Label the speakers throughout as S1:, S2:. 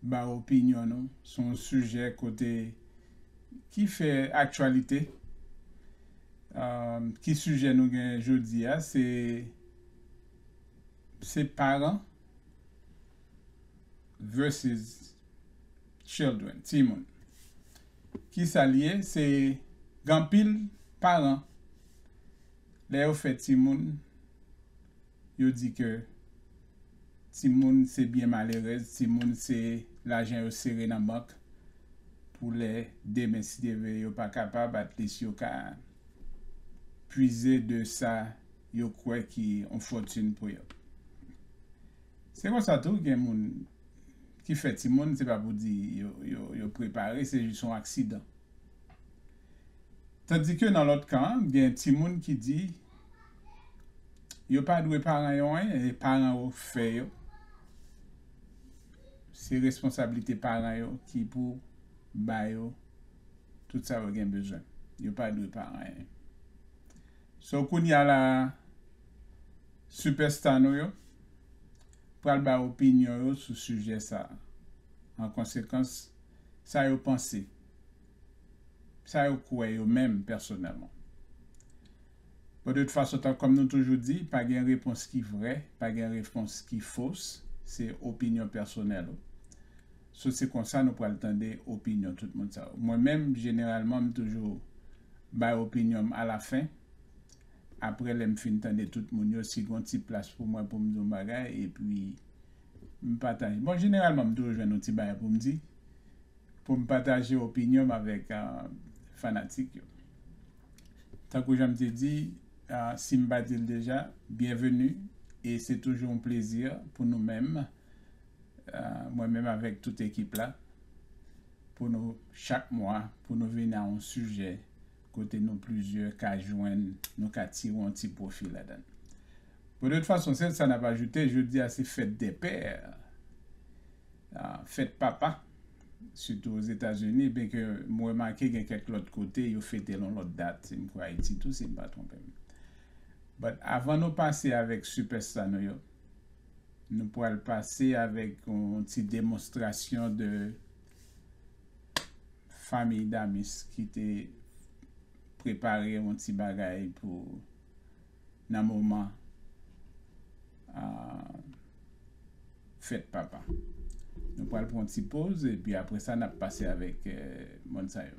S1: ba opinyon nou sou yon sijè kote ki fè aktyalite. Ki sijè nou gen jodi a se se paran versus children, timoun. Ki sa li ye? Se gen anpil paran lè yo fè timoun Yo di ke timoun se byen malerèz, timoun se lajan yo sere nan bank pou lè demen si Dye vle yo pa kapab at least yo ka pwize de sa yo kwè ki yon fòtin pou yo. Se konsa tou gen moun ki fè timoun se pa pou di yo prepare se jis yon aksidan. Tandike nan lòt kan an, gen timoun ki di yo pa dwe paran yo anyen, e paran yo fè yo. Se responsablite paran yo ki pou ba yo tout sa yo gen bezwen. Yo pa dwe paran anyen. So kounye a la a, sipèsta nou yo pral bay opinyon yo sou sijè sa a. An konsekans, sa yo panse. sa yo kwè yo menm pèsonèlman. Bon de tout fason tan kòm nou toujou di pa gen repons ki vrè, pa gen repons ki fos, se opinyon pèsonèl ou. So se konsa nou pral tande opinyon tout moun sa yo. Mwen menm jeneralman m toujou bay opinyon m alafen, aprè lè m fin tande tout moun yo si gon ti plas pou mwen pou m di yon bagay epi M pataje. Bon jeneralman m toujou jwenn yon ti bagay pou m di, pou m pataje opinyon m avèk fanatik yo. Tankou jan m te di, si m pa di l deja, byenveni e se toujou yon plezi pou nou menm, mwen menm avèk tout ekip la, pou nou chak mwa, pou nou vini a yon sijè kote nou plizyè ka jwenn nou ka tire yon ti pwofi ladan. Podet fason sèl sa nap ajoute jodi a se fèt dè pè, fèt papa sitou ozetazini byen ke m remake gen kèk lòt kote yo fetel yon lòt dat m kwè ayiti tou si m pa twonpe m. But avan nou pase avèk sipèsta nou yo nou pral pase avèk yon ti demonstrasyon de. Famiy Damis ki te prepare yon ti bagay pou nan moman fèt papa. Nou pral pran yon ti poz epi apresa nap pase avèk moun sa yo.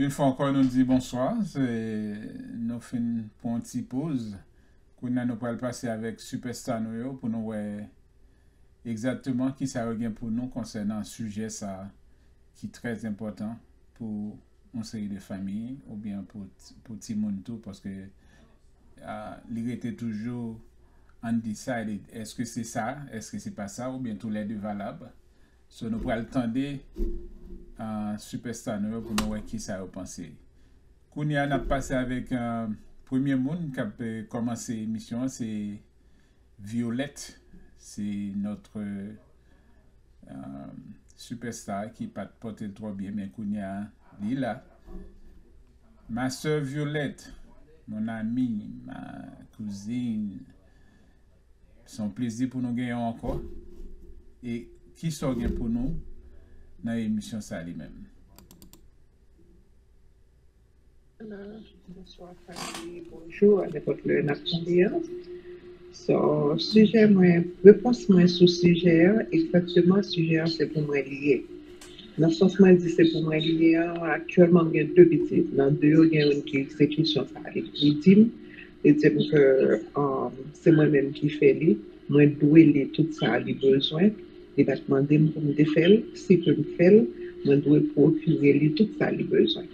S1: Yon fwa ankò nou di bonswa, nou fin pran yon ti poz, kounya nou pral pase avèk sipèsta nou yo pou nou wè egzatteman kisa yo gen pou nou konsènan sijè sa ki trè enpòtan pou yon seri de fanmi oubyen pou timoun tou paske li rete toujou undecided èske se sa èske se pa sa oubyen tou lè de valab. So nou pral tande sipèsta nou yo pou nou wè kisa yo panse. Kounye a nap pase avèk premye moun kap kòmanse emisyon an se Violette se notre sipèsta ki pat pòtel twò byen men kounye a li la Ma soeur Violette mon amie ma cousine Se yon plezi pou nou genyen w ankò e kisa w gen pou nou nan emisyon sa li menm?
S2: Bonswa Fadi, bonjou a nenpòt lè nap tande an. So sijè mwen, repons mwen sou sijè a, egzakteman sijè a se pou mwen li ye. Nan sans mwen di se pou mwen li ye a, aktyèlman m gen 2 pitit, nan 2 yo gen youn ki egzekisyon sa li di m. Li di m ke se mwen menm ki fè li, mwen dwe li tout sa li bezwen, li pa t mande m pou m te fè l, si ke m fè l, mwen dwe pwokire li tout sa li bezwen.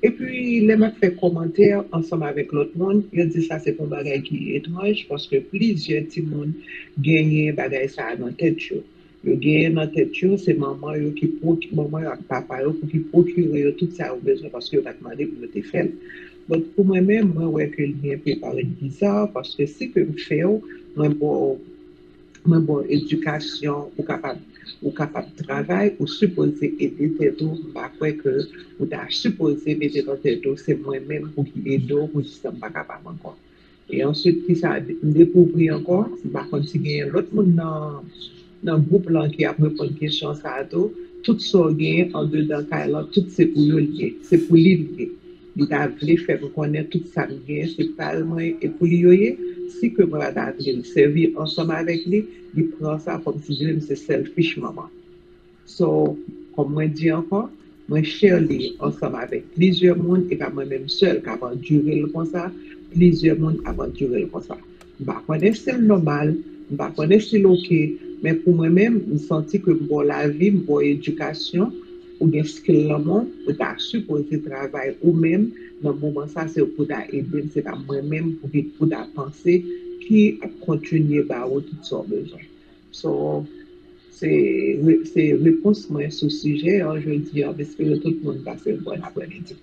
S2: Epi lè m ap fè kòmantè ansanm avèk lòt moun, yo di sa se pa yon bagay ki etranj paske plizyè timoun genyen bagay sa a nan tèt yo. Yo genyen nan tèt yo se manman yo ki pwoki manman yo ak papa yo pou ki pwokire yo tout sa yo bezwen paske yo pat mande pou yo te fèl but pou mwen menm mwen wè ke li enpe parèt bizarre paske si ke m fèw mwen baw mwen baw edikasyon ou kapab ou kapab travay ou sipoze ede tèt ou m pa kwè ke ou ta sipoze mete nan tèt ou se mwen menm pou ki edew pou jis la m pa kapab ankò. E answit kisa m dekouvri ankò, m pa konn si genyen lòt moun nan gwoup lan ki ap reponn kesyon sa a tou, tout sa w genyen andedan kay lan tout se pou yo l ye, se pou li l ye. Li ta vle fè m konnen tout sa m genyen se pa l mwen e pou li yo ye, si ke mwen pa ta vle l sèvi ansanm avèk li, li pran sa kòmsi vle m se selfish manman. So, kòm mwen di ankò, mwen share li ansanm avèk plizyè moun, e pa mwen menm sèl k ap andire l konsa, plizyè moun ap andire l konsa. M pa konn èske l nòmal, m pa konn èske l ok, men pou mwen menm, m santi ke m ba w lavi, m ba w edikasyon, ou gen skill lanmò, ou ta sipoze travay ou menm, nan moman sa se ou pou ta ede m, se pa mwen menm pou ki pou ta panse ki ap kontinye ba ou tout sa w bezwen. So, se se repons mwen sou sijè an jodi an, m espere tout moun
S1: pase yon bòn aprèmidi.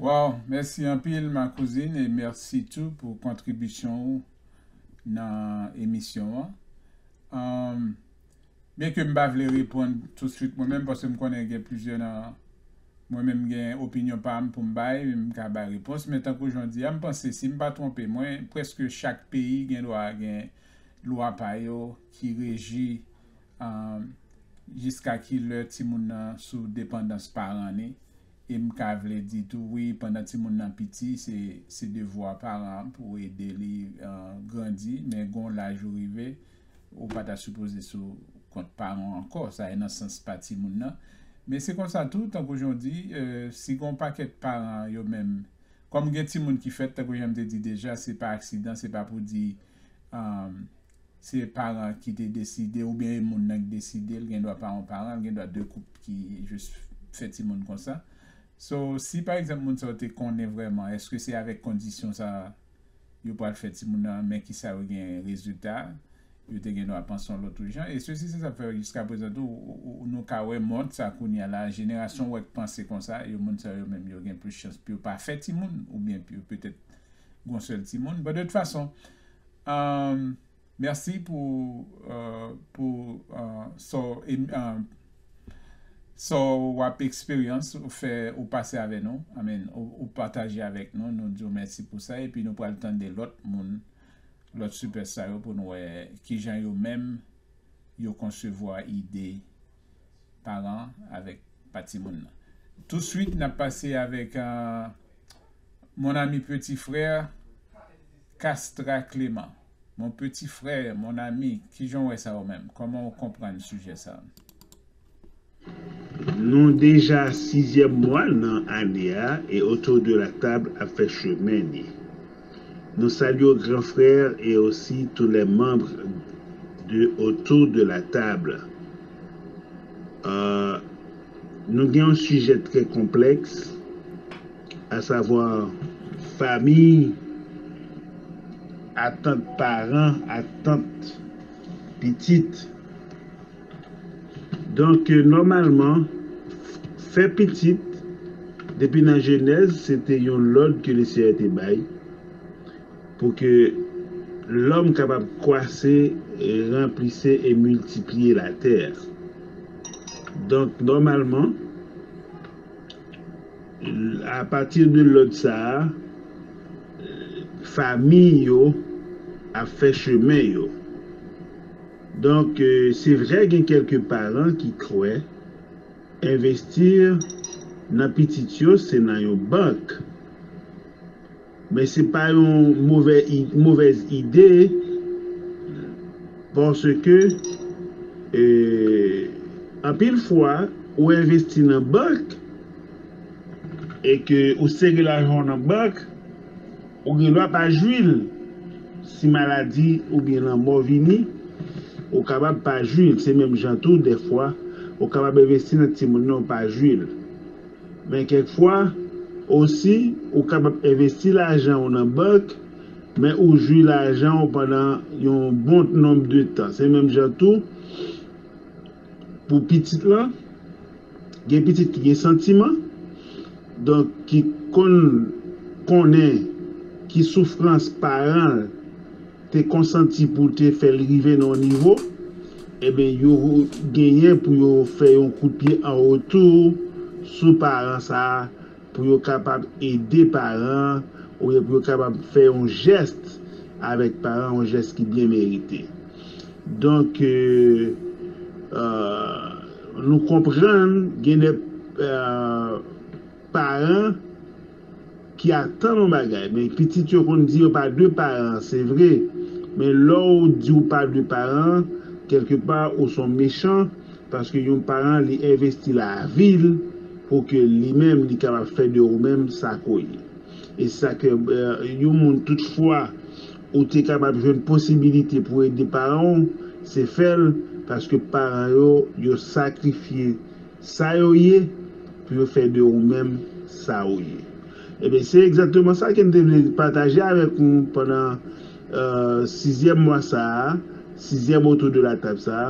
S1: Waw, mèsi anpil ma kouzin e mèsi tou pou kontribisyon ou nan emisyon an. Umm byen ke m pa vle reponn touswit mwen menm paske m konnen gen plizyè nan mwen menm gen opinyon pa m pou m bay, m ka bay repons men tankou jan w di a m panse si m pa twonpe mwen prèske chak peyi gen dwa gen Lwa pa yo ki reji jiska ki lè timoun nan sou depandans paran ni, e m ka vle di tou wi pandan timoun nan piti se devwa paran an pou ede li grandi men gon laj ou rive ou pa ta sipoze sou kont paran w ankò sa e nan sans pa timoun nan men se konsa tou tankou jan w di si gon pakèt paran yo menm Kòm gen timoun ki fèt, tankou jan m te di deja, se pa aksidan, se pa pou di se paran an ki te deside oubyen e moun nan ki deside l, gendwa pa yon paran, l gendwa 2 koup ki jis fè timoun konsa. So, si pa egzanp moun sa yo te konnen vrèman èske se avèk kondisyon sa yo pral fè timoun nan, men kisa yo gen rezilta. Yo te gendwa panse yon lòt jan. E sesi sesa fè jiska prezan tou nou ka wè mond sa kounya la, jenerasyon wè k panse konsa, yo moun sa yo menm yo gen plis chans pou yo pa fè timoun oubyen pou yo petèt gon sèl timoun. Bon de tout fason, mèsi pou pou sa w sa w ap eksperyans ou fè ou pase avè nou, I mean ou pataje avèk nou, nou di w mèsi pou sa epi nou pral tande lòt moun. lòt sipès sa yo pou n wè ki jan yo menm yo konsevwa ide paran avèk pa timoun nan. Touswit n ap pase avèk Mon ami petit frère Castra Clément Mon petit frère, mon ami, ki jan w wè sa ou menm? Kòman ou konprann sijè sa a?
S3: Nou deja sizyèm mwa nan ane a e Autour de la Table ap fè chemen ni. Nou salye w gran frè e osi tou lè manb de Autour de la Table. Nou gen yon sijè trè konplèks a savwa famiy, atant paran, atant pitit Donk, nòmalman, fè pitit, depi nan Jenèz, se te yon lòd ke le Seyè te bay, pou ke lòm kapab kwase, ranplise e miltipliye latè a. Donk, nòmalman, apati de lòd sa a, famiy yo ap fè chemen yo. Donk, se vre gen kèlke paran ki kwè envesti nan pitit yo se nan yon bank. Men se pa yon move movèz ide paske anpil fwa ou envesti nan bank e ke ou sere lajan w nan bank, Ou gen dwa pa jwi l. Si maladi oubyen lanmò vini, ou kapab pa jwi l. Se menm jan tou, dèfwa, ou kapab envesti nan timoun nan ou pa jwi l. Men kèk fwa, osi, ou kapab envesti lajan ou nan bank, men ou jwi lajan ou pandan yon bon nonb de tan. Se menm jan tou, Pou pitit lan, gen pitit ki gen santiman, donk ki konn konnen ki soufrans paran l te konsanti pou te fè l rive nan yon nivo, enben yo genyen pou yo fè yon kout pye an retou sou paran sa a pou yo kapab ede paran an oubyen pou yo kapab fè yon jès avèk paran an, yon jès ki byen merite. Donk, nou konprann gen de paran ki atann yon bagay. Men pitit yo konn di yo pa de paran an, se vre, men lè w di ou pa de paran an, kèlke pa ou s on mechan, Paske yon paran li envesti lavi l pou ke li menm li kapab fè de ou menm sa ke w ye. E sa ke yon moun tout fwa ou te kapab jwenn posibilite pou ede paran w se fè l paske paran yo yo sakrifye sa yo ye pou yo fè de ou menm sa ou ye. Ebyen se egzakteman sa ke m te vle pataje avèk nou pandan sizyèm mwa sa a, sizyèm autour de la table sa a.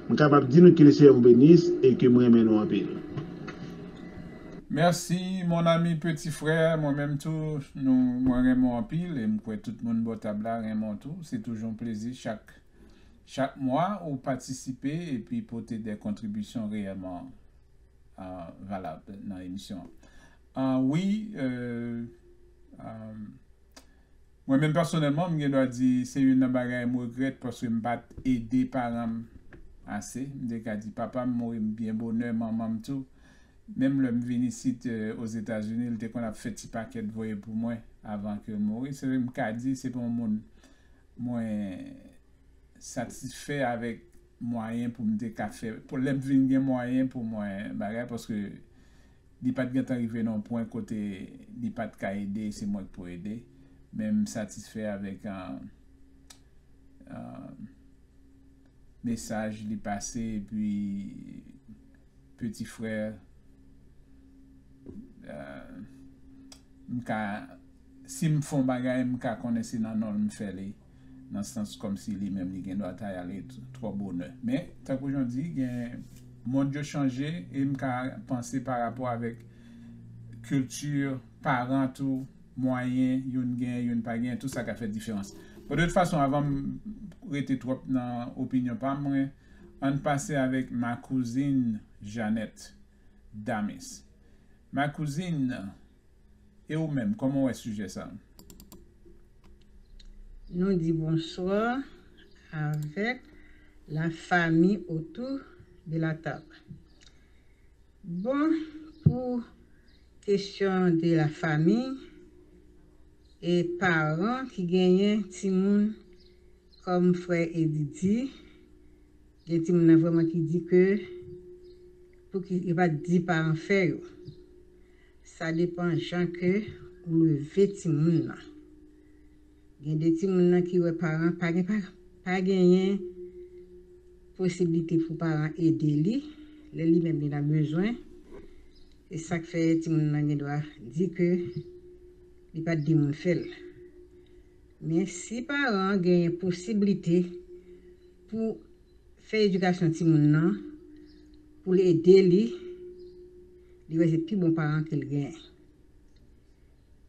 S3: M kapab di nou ke le Seyè vou benis e ke m renmen nou anpil. Merci
S1: mon ami petit frère mwen menm tou nou mwen renmen w anpil e m kwè tout moun bò tab la renmen w tou se toujou yon plezi chak chak mwa ou patisipe epi pote dè kontribisyon reyèman valab nan emisyon an wi euh euh Mwen menm pèsonèlman m gen dwa di se youn nan bagay m regrèt paske m pat ede paran m ase, m te ka di papa m mouri m byen bonè, manman m tou, menm lè m vin isit Ozetazini l te konn ap fè ti pakèt voye pou mwen avan ke l mouri, se m ka di se pa yon moun mwen satisfè avèk mwayen pou m te ka fè, pou lè m vin gen mwayen pou mwen bagay paske Li pat gentan rive nan yon pwen kote li pat ka ede se mwen ki pou ede men m satisfè avèk mesaj li pase epi peti frè m ka si m fon bagay m ka konnen se nan non l m fè li. nan sans kòmsi li menm li gen dwa ta ale twò bonè. Men, tankou jan di, gen mond yo chanje e m ka panse pa rapò avèk kilti paran tou, mwayen youn gen, youn pa gen, tou sa ka fè diferans. Bon, de tout fason, avan m rete twòp nan opinyon pa mwen, an n pase avèk ma kouzin Janèt Damis. Ma kouzin. E ou menm, kòman w wè sijè sa a?
S4: Nou di bonswa avèk la fami otou de la tab. Bon, pou kesyon de la fami e paran ki genyen timoun, kòm frè Eddy di, gen timoun nan vrèman ki di ke pou ki yo pa t di paran fè yo. Sa depan jan ke ou leve timoun nan. Gen de timoun nan ki wè paran pa gen pa genyen posiblite pou paran ede li lè li menm li nan bezwen. Se sak fè timoun nan gen dwa di ke li pat gen moun fè l. Men si paran genyen posiblite pou Fè edikasyon timoun nan pou l ede li, li wè se pi bon paran ke l genyen.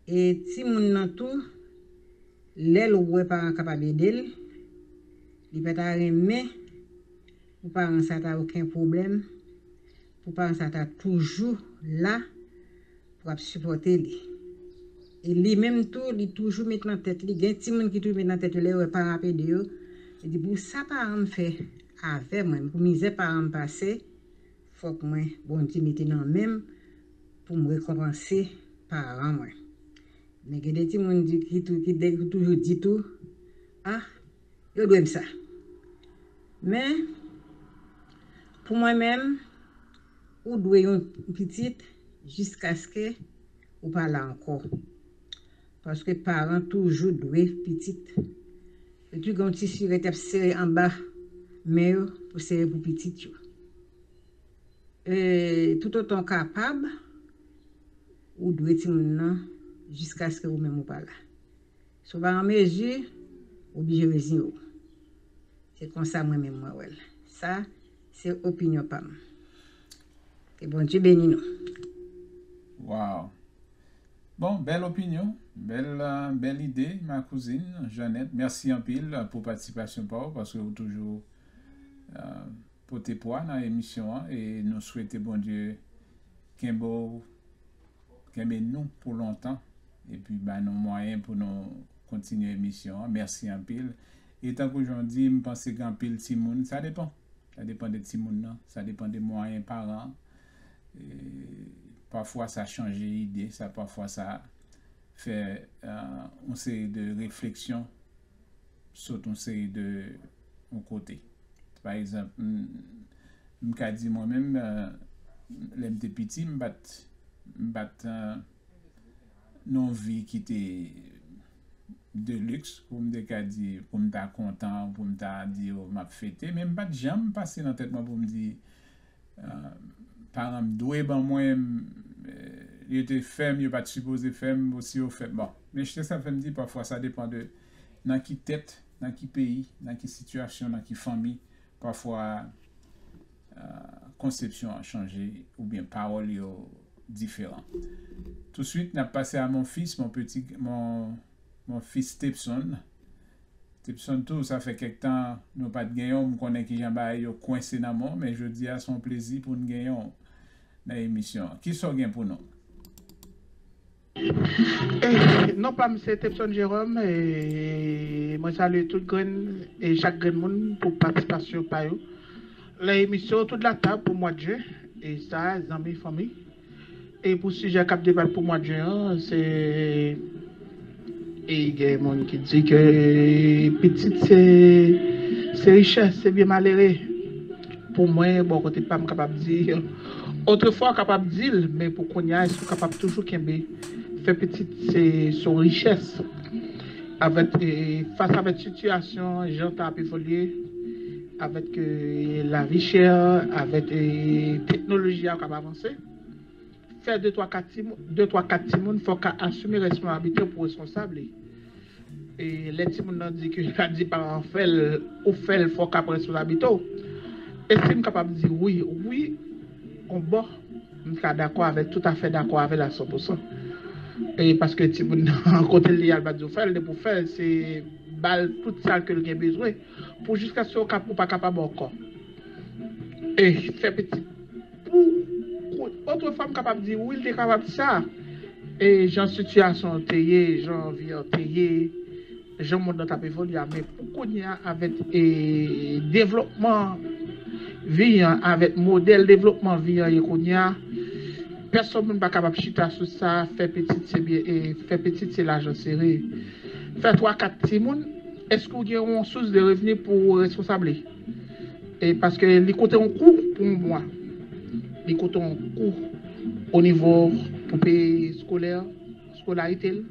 S4: E timoun nan tou, lè l wè paran kapab ede l, li pa ta renmen pou paran sa ta oken pwoblèm Pou paran sa ta toujou la pou ap sipòte li. E li menm tou li toujou met nan tèt li, gen timoun ki toujou met nan tèt yo lè yo wè paran ap ede yo, li di pou sa paran m fè avè mwen, pou mizè paran m pase, fòk mwen Bondye mete nan men m pou m rekonpanse paran mwen. Men gen de timoun ki toujou di tou, ah Yo dwe m sa. Men, pou mwen menm, ou dwe yon pitit jiskaske ou pa la ankò. Paske paran toujou dwe pitit. Yo tou gen yon tisi yo rete ap sere anba men yo pou sere pou pitit yo. E, toutotan ou kapab, ou dwe timoun nan jiskaske ou menm ou pa la. Si w pa an mezi, ou blije reziyen w. Se konsa mwen menm mwen wè l. Sa, se opinyon pa m. Ke Bondye beni nou.
S1: Waww bon bèl opinyon bèl bèl ide ma kouzin Jeannette mèsi anpil pou patisipasyon pa w paske ou toujou pote pwa nan emisyon an e nou swete Bondye kenbe w Kenbe nou pou lontan epi ba nou mwayen pou nou kontinye emisyon an. Mèsi anpil. E tankou jan w di, m panse gen anpil timoun, sa depan. Sa depan de timoun nan, sa depan de mwayen paran an. Pafwa sa chanje ide, sa pafwa sa fè yon seri de refleksyon. sot yon seri de yon kote. Pa egzanp, m ka di mwen menm lè m te piti m pa t m pa t nan yon vi ki te de liks pou m te ka di pou m ta kontan pou m ta di m ap fete men m pa t janm pase nan tèt mwen pou m di Paranm dwe ban mwen yo te fèm yo pat sipoze fèm bon si yo fèm bon men chnsè sa fèm di pafwa sa depan de nan ki tèt nan ki peyi nan ki sitiyasyon nan ki fanmi pafwa konsepsyon an chanje oubyen pawòl yo diferan touswit nap pase a mon fis mon peti mon Mon fils Tepson, Tepson tou sa fè kèk tan nou pat genyen w m konnen kijan bagay yo kwense nan men w men jodi a se yon plezi pou n genyen w nan emisyon an. Kisa w gen pou nou?
S5: Non pa m se Tepson Jerome e mwen salye tout grenn e chak grenn moun pou patisipasyon pa yo nan emisyon Autour de la table pou mwa de jen e sa zanmi fanmi. E pou sijè k ap debat pou mwad jen an, se gen moun ki di ke pitit se richès, se byen malere. Pou mwen, bò kote pa m, m kapab di, otrefwa w kapab di l, men pou kounye a, èske w kapab toujou kenbe fè pitit se yon richès? Avèk, fas avèk sitiyasyon jan tan ap evolye. Avèk lavi chè, avèk teknoloji a k ap avanse, fè de twa kat timoun fòk ka asime responabite ou pou responsab li. E lè timoun nan di ke pa di paran an fè l, ou fè l fòk ka pran responsabite w. Èske m kapab di wi? Wi on bò, m ka dakò avèl, toutafè dakò avèl a san pousan. E paske timoun nan kote l ye a l pa di w fè l, depi w fè l se ba l tout sa ke l gen bezwen. Pou jiskaske ou kap ou pa kapab ankò. E fè pitit. Pou kou otrefwa m kapab di wi l te kapab sa. E jan sitiyasyon an te ye, jan vi an te ye, jan mond lan t ap evolye a. Men pou kounye a avèk e devlopman vi an, avèk modèl devlopman vi an ye kounye a, pèsòn moun pa kapab chita sou sa, fè pitit se byen e fè pitit se lajan sere. Fè twa kat timoun. Eske ou gen yon sous de revni pou ou responsab li? E paske li koute yon kou pou yon mwa. Li koute yon kou o nivo pou peye skolè, skolarite l,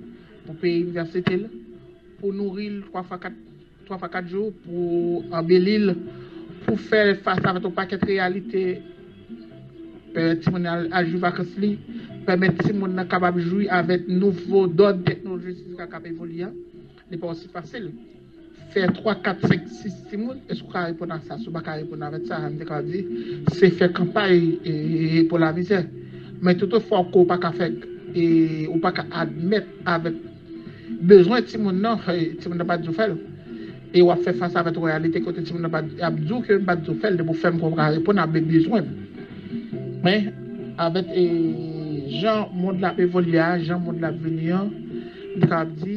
S5: pou peye inivèsite l, pou nouri l 3 fwa 4, 3 fwa 4 jou, pou anbeli l, pou fè fas avèk yon pakèt reyalite, pèmèt timoun nan al jwi vakans li, pèmèt timoun nan kapab jwi avèk nouvo dòd teknolojik ki kab evolye an. Li pa osi fasil fè 3, 4, 5, 6 timoun. Èske ou ka reponn ak sa? Si ou pa ka reponn avèk sa, an te ka di, se fè kanpay pou lamizè. Men touto fwa ke ou pa ka fè, ou pa ka admèt avèk bezwen timoun nan, timoun nan pa di ou fè l. E ou ap fè fas avèk reyalite kote timoun nan ap di ou ke m pa di ou fè l, depi ou fè m kwè ou ka reponn a bezwen m. Men, avèk jan mond la ap evolye a, jan mond la ap vini an, Li ka ap di,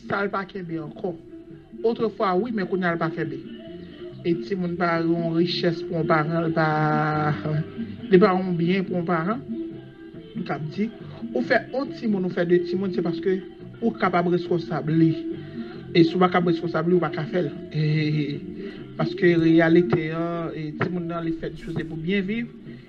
S5: sa l pa kenbe ankò. Otrefwa wi, men kounya l pa kenbe. E timoun pa yon richès pou yon paran, li pa li pa yon byen pou yon paran. Li ka ap di, ou fè yon timoun, ou fè de timoun, se paske ou kapab reskonsab li. E si w pa kab reskonsab li, ou pa ka fè l. Paske reyalite an, timoun nan li fèt jis pou se pou byen viv.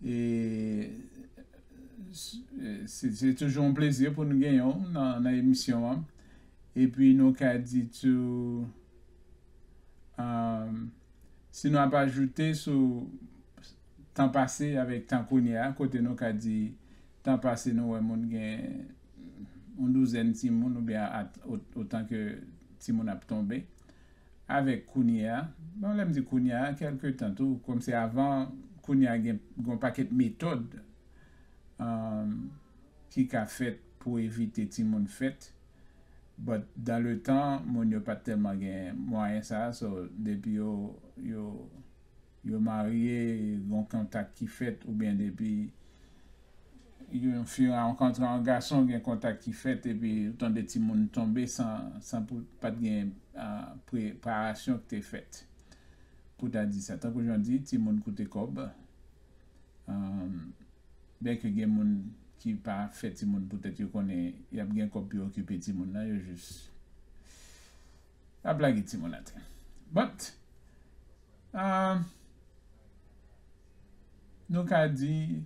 S1: E se toujou yon plezi pou nou genyen w nan emisyon an. E pi nou ka di tou, si nou ap ajoute sou tan pase avèk tan kounye a, kote nou ka di tan pase nou wè moun gen yon douzèn timoun oubyen otan ke timoun ap tonbe. Avèk kounye a, bon lè m di kounye a, kèlke tan tou, kòm se avan kounye a gen yon pakèt metòd ki ka fèt pou evite timoun fèt but dan le tan moun yo pat tèlman gen mwayen sa so depi yo yo Yo marye, gon kontak ki fèt oubyen depi yon fi rankontre yon gason gen kontak ki fèt epi ou tande timoun tonbe san pou pat gen preparasyon ki te fèt pou ta di sa tankou jan di timoun koute kòb byen ke gen moun ki pa fè timoun poutèt yo konnen yap gen kòb pou yo okipe timoun nan yo jis. Pa blage ti moun atè. But ahh nou ka di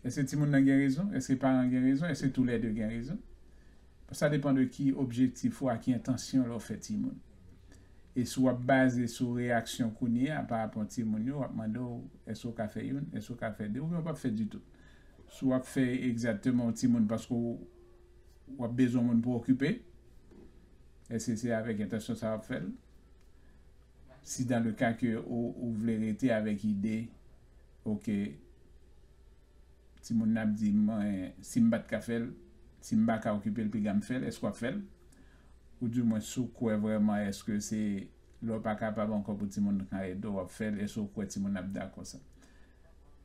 S1: eske ti moun nan gen rezon, eske paran gen rezon, eske tou lè 2 gen rezon. Sa depan de ki objektif ou a ki entansyon lè w fè ti moun. E si w ap baze sou reyaksyon kounye a pa rapò ti moun yo w ap mande w eske w ka fè youn, eske w ka fè 2 oubyen w pap fè ditou. Si w ap fè egzateman yon ti moun paske w. W ap bezwen moun pou w okipe. Èske se avèk entansyon sa w ap fè l? Si dan le ka ke ou vle rete avèk ide oke timoun nan ap di mwen si m pa t ka fè l, si m pa ka okipe l piga m fè l, èske w ap fè l? Ou di mwen si w kwè vrèman èske se lè w pa kapab ankò pou timoun nan ka ede w w ap fè l, èske w kwè timoun nan ap dakò sa?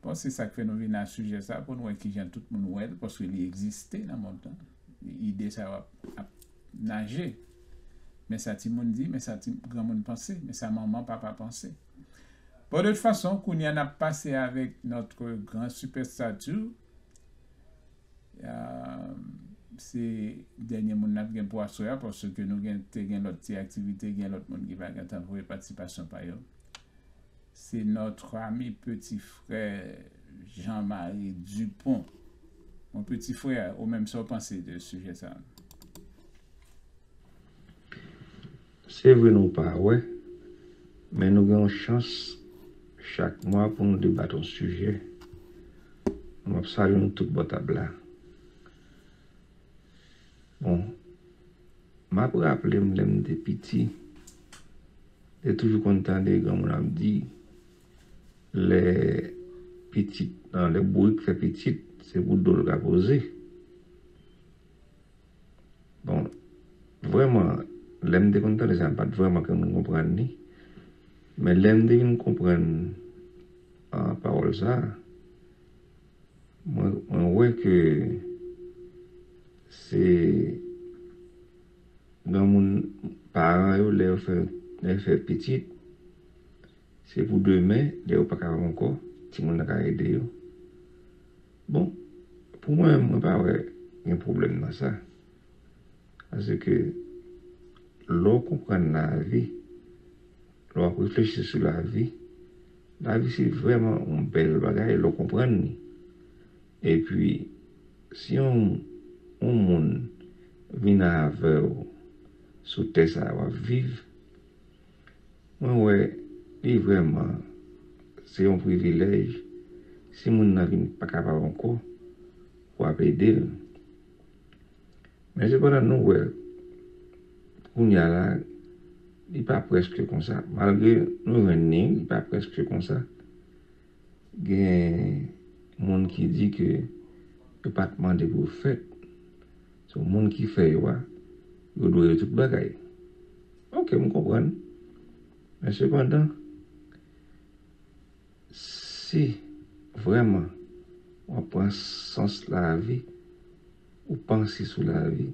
S1: Bon se sak fè nou vin a sijè sa pou nou wè kijan tout moun wè l paske li egziste nan mond lan ide sa yo ap naje men sa timoun di men sa ti granmoun panse men sa manman papa panse bon de tout fason kounya n ap pase avèk notre grand superstar too se dènye moun n ap gen pou aswè a paske nou gen te gen lòt ti aktivite gen lòt moun ki pa gen tan voye patisipasyon pa yo. Se notre ami petit frère Jean Marie Dupont. Mon petit frère, ou menm sa w panse de sujet sa?
S6: Se vre nou pa wè, men nou gen yon chans chak mwa pou nou debat yon sijè. M ap salye nou tout bò tab la. Bon. M ap raple m lè m te piti, m te toujou konn tande granmoun ap di, lè pitit, nan lè bourik fè pitit, se pou do l ka poze. Bon, vrèman, lè m te konn tande sa, m pa t vrèman konn konprann li. Men lè m te vin konprann pawòl sa a, Mwen wè ke se granmoun paran yo lè yo fè lè yo fè pitit se pou demen lè yo pa kapab ankò timoun nan ka ede yo bon pou mwen menm mwen pa wè gen pwoblèm nan sa paseke lè w konprann lavi lè w ap reflechi sou lavi Lavi se vrèman yon bèl bagay lè w konprann li. Epi, si yon yon moun vin avè w sou tè sa a w ap viv, mwen wè li vrèman se yon privilèj si moun nan vin pa kapab ankò, w ap ede l. Men sepandan nou wè kounya la li pa prèske konsa. Malgre nou jwenn ni li pa prèske konsa. Gen moun ki di ke yo pa t mande pou yo fèt. So moun ki fè yo a, yo dwe yo tout bagay. Ok m konprann. Men sepandan si vrèman w ap pran sans lavi. Ou panse sou lavi.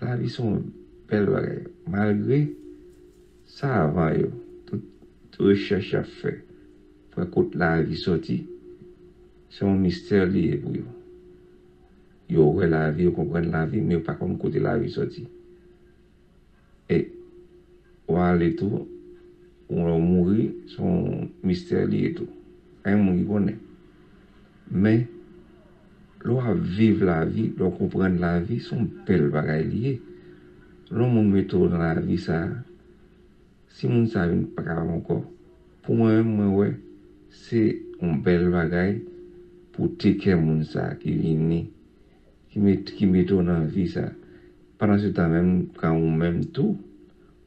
S6: Lavi son bèl bagay. Malgre savan yo, tout rechèch yap fè pou wè kot lavi soti, se yon mistè li ye pou yo. Yo wè lavi, yo konprann lavi, men yo pa konn kote lavi soti. E w ale tou, ou lè w mouri, se yon mistè li ye tou. Pa gen moun ki konnen. Men, lè w ap viv lavi, lè w konprann lavi, se yon bèl bagay li ye. Lè yon moun mete w nan lavi sa a, si moun sa a vin pa ka la ankò, pou mwen menm, mwen wè, se yon bèl bagay pou w tekè moun sa a ki vini. ki mete w nan vi sa. Pandan se tan menm kan ou menm tou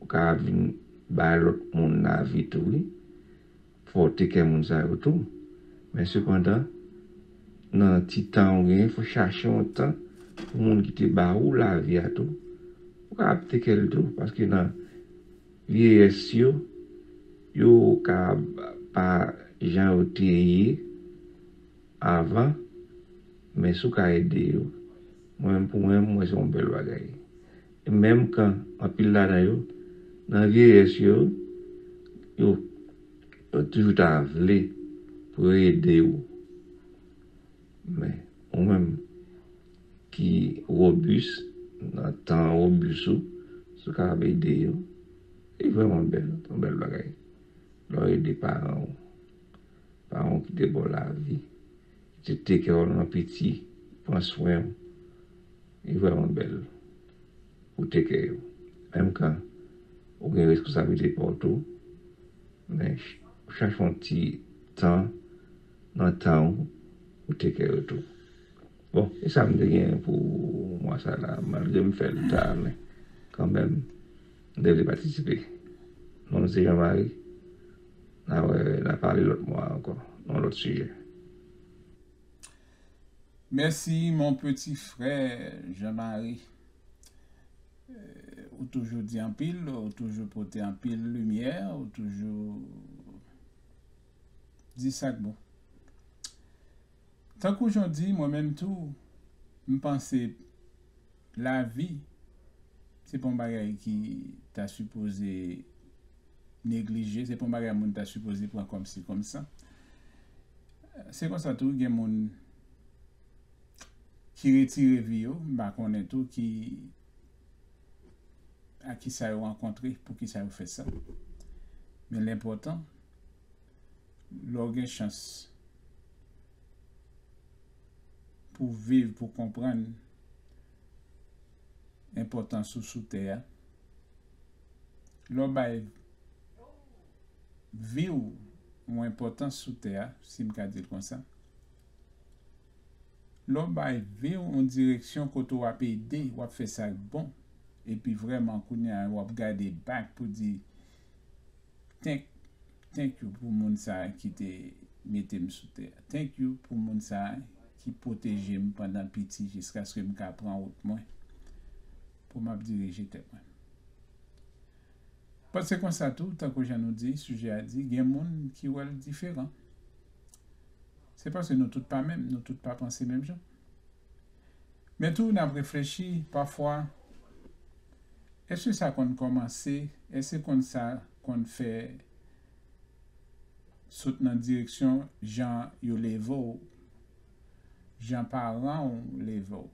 S6: ou ka ap vin bay lòt moun lavi tou wi, fòte kè moun sa yo tou. Men sepandan nan ti tan ou genyen fò chache yon tan pou moun ki te ba ou lavi a tou ou ka ap tekè l tou paske nan vyeyès yo, yo ka pa jan yo te ye. Avan, men si w ka ede yo. Mwen menm pou mwen, m wè se yon bèl bagay. E menm kan, anpil ladan yo, nan vyeyès yo, yo toujou ta vle pou yo ede ou. Men, ou menm ki wobis, nan tan wobis ou, si w kapab ede yo, li vrèman bèl, se yon bèl bagay. Lè w ede paran ou. Pa wont ou te baw lavi. Li te take care w nan piti, li pran swen w. Li vrèman bèl pou take care yo. Menm kan ou gen reskonsablite pa w tou, men chache yon ti tan nan tan ou pou take care yo tou. Bon, e sa m te genyen pou mwa sa la. Malgre m fè l ta, men kanmenm m te vle patisipe. Non m se Jean Marie, Na wè na pale lòt mwa ankò nan lòt sijè. Mèsi
S1: mon petit frère Jean Marie ou toujou di anpil ou toujou pote anpil limyè ou toujou di sak bon tankou jan w di mwen menm tou m panse Lavi se pa yon bagay ki ta sipoze neglije, se pa yon bagay moun ta sipoze pran kòmsi kòmsa. Se konsa tou gen moun ki retire vi yo, m pa konnen tou ki ak ki sa yo rankontre, pou ki sa yo fè sa. Men lenpòtan, lè w gen chans pou viv, pou konprann, enpòtans ou sou tè a. Lè w bay vi w yon enpòtans sou tè a, si m ka di l konsa, lè w bay vi w yon direksyon kote w ap ede, w ap fè sa k bon, epi vrèman kounye a w ap gade bak pou di, Thank Thank you pou moun sa ki te mete m sou tè Thank you pou moun sa ki pwoteje m pandan piti jiskaske m ka pran wout mwen pou m ap dirije tèt mwen But se konsa tou tankou jan nou di sijè a di gen moun ki wè l diferan Se paske nou tout pa menm nou tout pa panse menm jan. Men tou n ap reflechi pafwa, èske sa konn kòmanse, èske konn sa konn fè sot nan direksyon jan yo leve w, jan paran w leve w,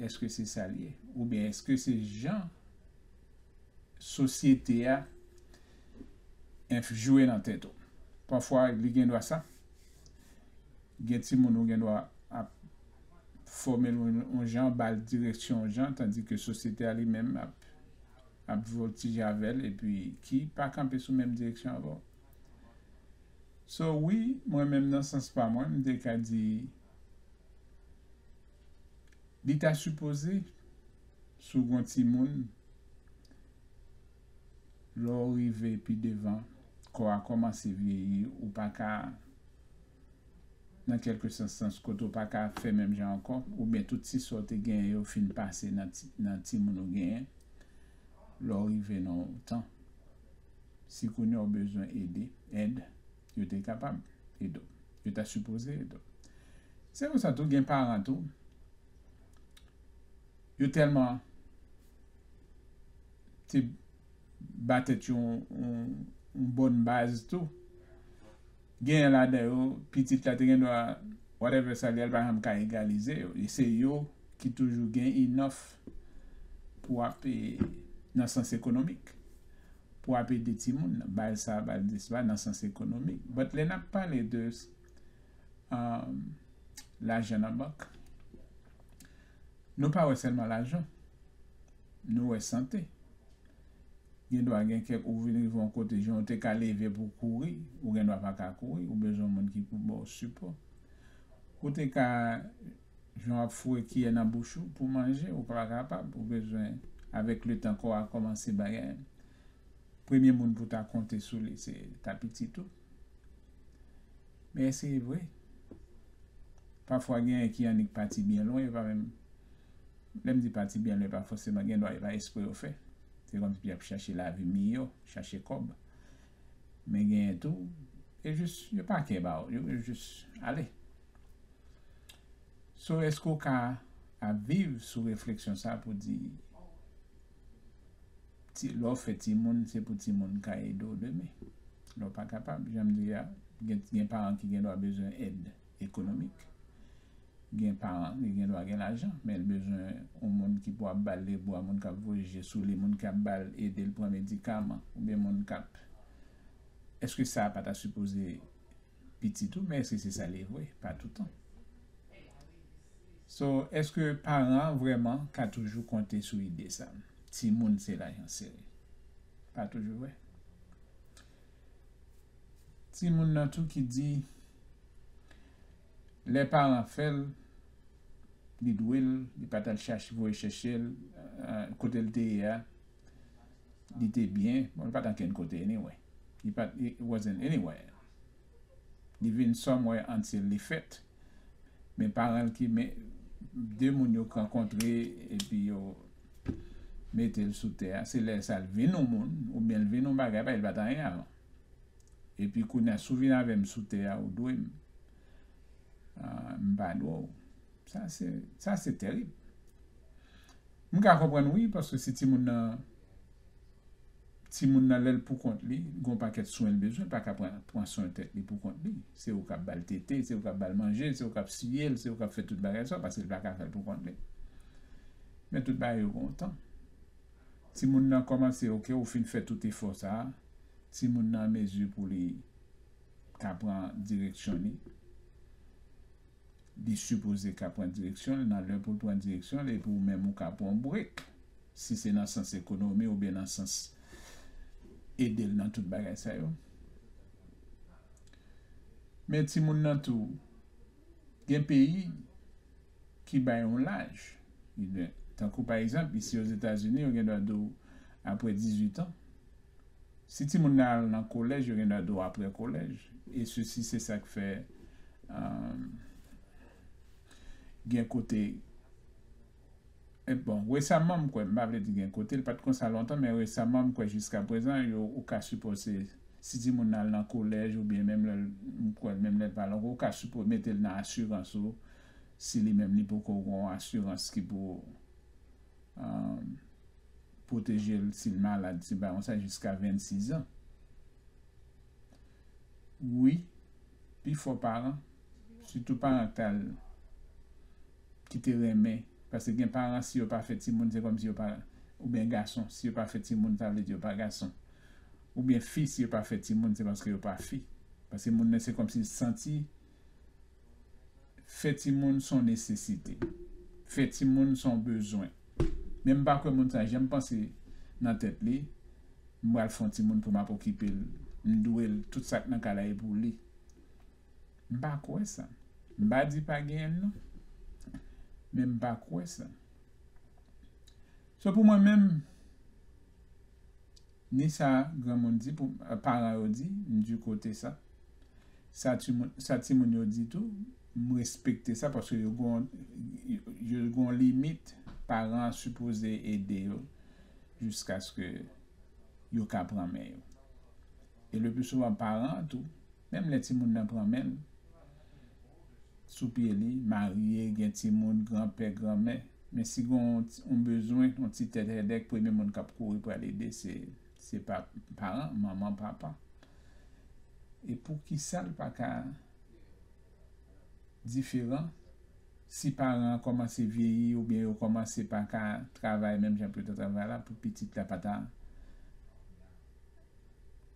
S1: èske se sa l ye? Oubyen èske se jan sosyete a jwe nan tèt ou? Pafwa li gendwa sa. Gen timoun ou gen dwa ap fòme l yon jan, ba l direksyon yon jan, tandi ke sosyete a li menm ap vòltije avè l epi ki pa kanpe sou menm direksyon avè w. So, wi, mwen menm nan sans pa mwen, m te ka di li ta sipoze si w gen yon timoun, Lè w rive pi devan, kò a kòmanse vyeyi, ou pa ka, nan kèlke sans sans, kote w pa ka fè menm jan ankò, oubyen tout ti sa w te genyen yo fin pase nan timoun ou genyen, lè w rive nan yon tan, si kounye a w bezwen ede, èd, yo te kapab ede w, yo ta sipoze ede w. Se konsa tou gen paran tou. Yo tèlman te ba tèt yo yon bòn baz tou. Genyen ladan yo, pitit la te gen dwa whatever sa li al pa janm ka egalize yo. E se yo ki toujou gen enough pou ap e nan sans ekonomik. Pou ap ede timoun nan. Baz sa, baz dis la nan sans ekonomik. But lè nap pale de lajan nan bank. Nou pa wè sèlman lajan. Nou wè sante. Gen dwa gen kèk ou vin rive yon kote jan ou te ka leve pou w kouri, ou gen dwa pa ka kouri, ou bezwen yon moun ki pou ba w sipò. Ou te ka jan w ap foure kiyè nan bouch ou pou manje, ou pa kapab, ou bezwen avèk letan kò a kòmanse bagay. Premye moun pou w ta konte sou li se ta pitit ou. Men se vre. Pafwa genyen ki annik pati byen lwen yo pa menm lè m di pati byen lwen pa fòseman gen dwa e pa espre yo fè. Se kòm si yo ap chache lavi miyò, chache kòb. Men genyen tou yo jis yo pa kè ba yo yo jis ale. So èske ou ka ap viv sou refleksyon sa pou di. Ti lè w fè timoun se pou timoun ka ede w demen. Lè w pa kapab, jan m di a, gen gen paran ki gen dwa bezwen èd ekonomik. Gen paran ki gen dwa gen lajan, men l bezwen yon moun ki pou ap ba l lebwa, moun k ap voye je sou li, moun ki ap ba l ede l pran medikaman oubyen moun k ap Èske sa a pa ta sipoze pitit ou men si se sa li vre pa toutan so eske paran vreman ka toujou konte sou ide sa ti moun se lajan sere pa toujou vre ti moun nan tou ki di lè paran fèl li dwel li pa tal chache voye chèchel kotel te ye a. Li te byen, bon li pat ankenn kote anyway. Li pat, it wasn't anywhere. Li vin somewhere until li fèt. Men paran l ki men, de moun yo rankontre epi yo mete l sou tè a, se lè sa l vin yon moun oubyen l vin yon bagay, paske li pat anyen avan. Epi kounye a si w vin avè m sou tè a ou dwe m, m pa dwe w. Sa se, sa se tèrib. M ka konprann wi paske si timoun nan timoun nan lèl pou kont li gon pakèt swen l bezwen pa ka pran pran swen tèt li pou kont li se ou kap bal tete se ou kap bal manje se ou kap siye l se ou kap fè tout bagay sa paske l pa ka fè l pou kont li men tout bagay yo gon tan timoun nan kòmanse ok ou fin fè tout efò sa timoun nan an mezi pou li ka pran direksyon li. Li sipoze ka pran direksyon l nan lè pou l pran direksyon l epi ou menm ou ka pran w break si se nan sans ekonomi oubyen nan sans ede l nan tout bagay sa yo. Men timoun nan tou gen peyi ki bay yon laj tankou pa egzanp isi Ozetazini yo gen dwa di w aprè 18 ans Si timoun nan al nan kolèj yo gen dwa do aprè kolèj e sesi se sak fè gen kote bon resaman m kwè m pa vle di gen kote l pat konsa lontan men resaman m kwè jiska prezan yo ou ka sipose si timoun nan al nan kolèj oubyen menm lè l m kwè l menm lè l pa lan ou ka sipo mete l nan asirans ou si li menm li poko gon asirans ki pou. Pwoteje l si l malad, se bay yon sa jiska 26 an. Wi, pi fò paran, sitou paran k ta al, ki te renmen, paske gen paran si yo pa fè timoun se kòmsi yo pa, oubyen gason si yo pa fè timoun sa vle di yo pa gason, oubyen fi si yo pa fè timoun se paske yo pa fi, paske moun nan se kòmsi l santi. fè timoun son nesesite, fè timoun son bezwen. Men m pa kwè moun sa janm panse nan tèt li, m pral fè yon timoun pou m ap okipe l, m dwe l, tout sa k nan kay la e pou li. M pa kwè sa. M pa di pa genyen l non. Men m pa kwè sa. So pou mwen menm, Ni sa granmoun di pou paran yo di, m du kote sa. Sa timoun sa timoun yo di tou, m respekte sa paske yo gon yo gon limit paran an sipoze ede yo jiskaske yo ka pran men yo. E le plus souvan paran an tou Menm lè timoun nan pran men l, sou pye li, marye, gen timoun, granpè, granmè, men si gen yon bezwen, yon ti tèt hèdèk, premye moun k ap kouri pral ede se paran, manman, papa. E poukisa l pa ka diferan si paran an kòmanse vyeyi oubyen yo kòmanse pa ka travay menm jan pou yo ta travay la pou pitit la pa ta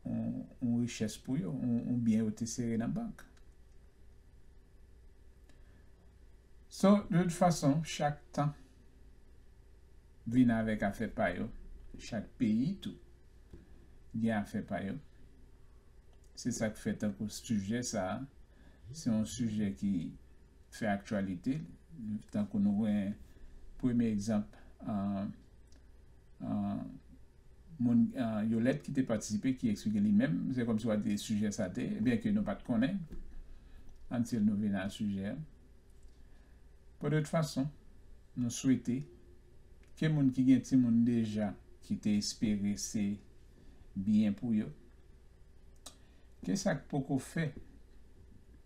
S1: yon richès pou yo, yon byen yo te sere nan bank. So, de tout fason, chak tan vin avèk afè pa yo, chak peyi tou gen afè pa yo. Se sa k fè tankou sijè sa a, se yon sijè ki fè aktyalite, tankou nou gen premye egzanp, moun Yolette ki te patisipe ki eksplike li menm, se kòm si w a di sijè sa te, byen ke nou pa t konnen, until nou vin a sijè a. Bon, de tout fason, nou swete ke moun ki gen timoun deja ki te espere se byen pou yo, ke sa k poko fè,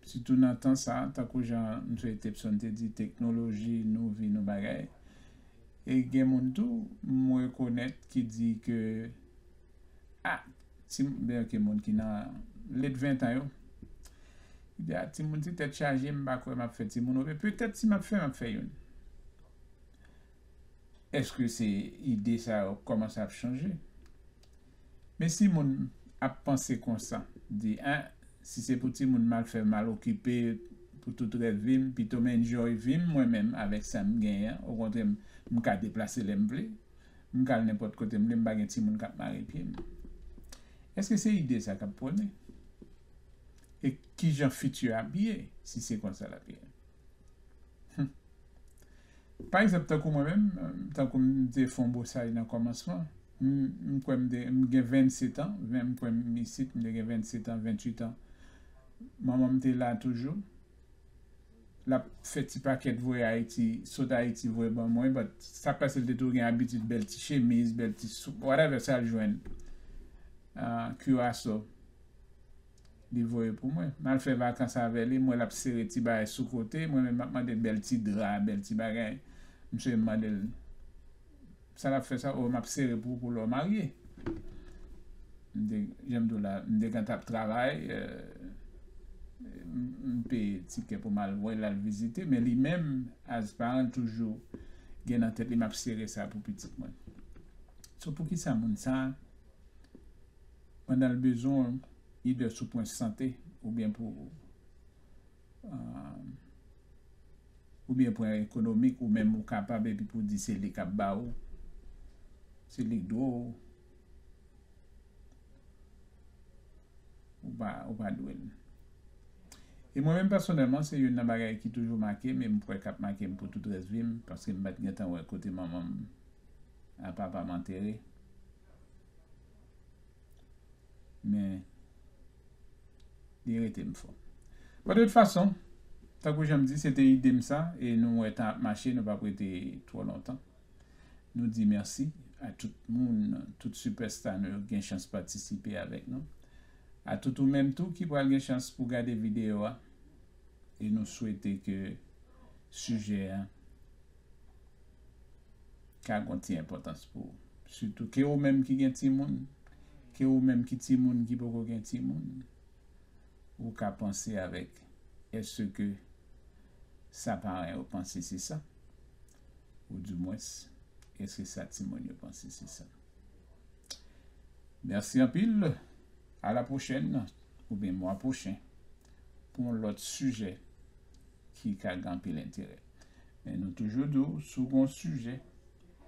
S1: sitou nan tan sa, tankou jan M. Tepson te di, teknoloji, nou vi, nou bagay, E gen moun tou m rekonèt ki di ke a ti ben ok moun ki nan late 20 tan yo ki di a timoun ti tèt chaje m pa kwè m ap fè timoun oubyen petèt si m ap fè m ap fè youn. Èske se ide sa yo k kòmanse ap chanje? Men si moun ap panse konsa, di ah si se pou timoun m al fè mal okipe pou tout rès vi m pito m enjoy vi m mwen menm avèk sa m genyen an okontrè m ka deplase lè m vle m ka al nenpòt kote m vle m pa gen timoun k ap mare pye m èske se ide sa k ap pwone? E kijan fiti a ap ye si se konsa l ap ye? Humm. Pa egzanp tankou mwen menm, tankou m te fè yon bosay nan kòmansman, m kwè m te, m gen 27 an, m kwè m isit m te gen 27 an, 28 an, manman m te la toujou, l ap fè ti pakèt voye Ayiti, sot Ayiti voye ban mwen, but sa k pase l te toujou gen abitid bèl ti chemiz, bèl ti, whatever sa l jwenn, kiraso. Li voye pou mwen. M al fè vakans avè li, m wè l ap sere ti bagay sou kote, mwen menm m ap mande l bèl ti dra, bèl ti bagay. Msye mande l, Sa l ap fè sa? O, m ap sere pou ou pou lè w marye. M te, jan m di w la, m te gentan ap travay, m peye tikè pou m al wè l, al vizite, men li menm, as paran l toujou gen nan tèt li m ap sere sa pou pitit mwen. So poukisa moun sa a Pandan l bezwen w ide sou pwen sante oubyen pou oubyen pwen ekonomik ou menm ou kapab epi pou di se li k ap ba ou, se li k dwe w, ou pa dwe l. E mwen menm pèsonèlman se youn nan bagay ki toujou make m e m kwè k ap make m pou tout rès vi m paske m pa t gentan wè kote manman m ak papa m antere. Men, li rete m fò. Bon, de tout fason, tankou jan m di, se te ide m sa, e nou wè tan ap mache, nou p ap rete twò lontan. Nou di mèsi a tout moun, tout sipèsta nou yo ki gen chans patisipe avèk nou. A tout ou menm tou ki pral gen chans pou gade videyo a. E nou swete ke sijè a ka gon ti enpòtans pou ou. Sitou ke ou menm ki gen timoun, ke ou menm ki timoun ki poko gen timoun, ou ka panse avèk èske sa paran yo panse se sa? Ou di mwens, èske sa timoun yo panse se sa? Mèsi anpil, a la pwochèn oubyen mwa pwochen pou yon lòt sijè. ki ka gen anpil enterè. Men nou toujou di w, si w gen yon sijè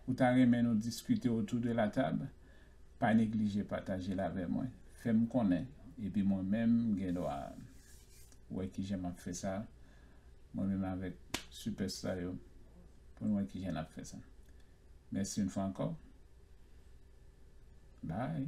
S1: ou ta renmen nou diskite otou de la tab, pa neglije pataje l avè mwen, fè m konnen, epi mwen menm m gen dwa wè ki jan m ap fè sa, mwen menm avèk sipèsta yo, pou n wè ki jan n ap fè sa. Mèsi yon fwa ankò. Bye!